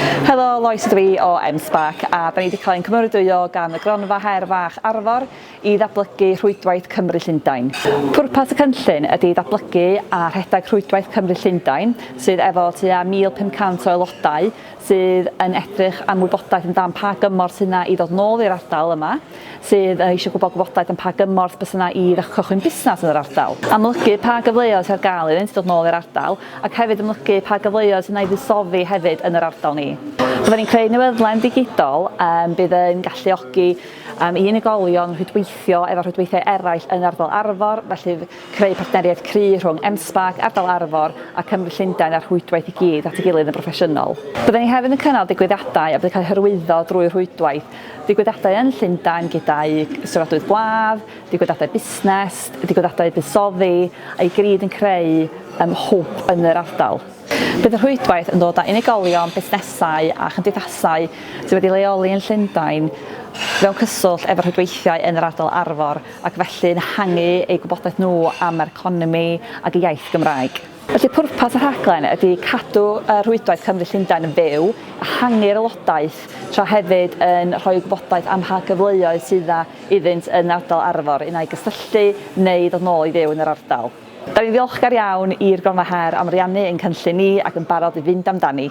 Helo, Lois ydw i o M-Spark a da ni wedi cael ein cymeradwyo gan y Gronfa Her Fach Arfor i ddatblygu Rhwydwaith Cymru Llundain. Pwrpas y cynllun ydy datblygu a rhedeg Rhwydwaith Cymru Llundain sydd efo tua 1,500 o aelodau sydd yn edrych am wybodaeth amdan pa gymorth sydd 'na i ddod nôl i'r ardal yma, sydd eisiau gwybod gwybodaeth am pa gymorth bys yna i ddechrau cychwyn busnes yn yr ardal. Amlygu pa gyfleoedd sydd ar gael iddynt ddod nôl i'r ardal ac hefyd amlygu pa gyfleoedd sydd yna i fuddsoddi hefyd yn yr ardal ni. Fydda ni'n creu newyddlen ddigidol bydd yn galluogi i unigolion rhwydweithio efo rhwydweithiau eraill yn ardal Arfor, felly creu partneriaeth cry rhwng Enspark, Ardal Arfor a Cymru Llundain a'r rhwydwaith i gyd at ei gilydd yn broffesiynol. Bydda ni hefyd yn cynnal digwyddiadau a bydd yn cael eu hyrwyddo drwy rhwydwaith Digwyddiadau yn Llundain gyda'u sefydlwyr gwlad, digwyddiadau busnes, digwyddiadau buddsoddi, a i gyd yn creu um, hwb yn yr ardal. Bydd y rhwydwaith yn dod â unigolion, busnesau a chymdeithasau sydd wedi leoli yn Llundain mewn cyswllt efo rhwydweithiau yn yr ardal Arfor ac felly'n hangu eu gwybodaeth nhw am yr economi ac y iaith Gymraeg. Felly pwrpas y rhaglen ydy cadw y rhwydwaith Cymru Llundain yn fyw, ehangu'r aelodaeth, tra hefyd yn rhoi gwybodaeth am mha gyfleoedd sydd iddynt yn yr ardal Arfor un ai gysylltu neu ddod nôl i fyw yn yr ardal. Da ni'n ddiolchgar iawn i'r Gronfa Her am ariannu ein cynllun ni ac yn barod i fynd amdani.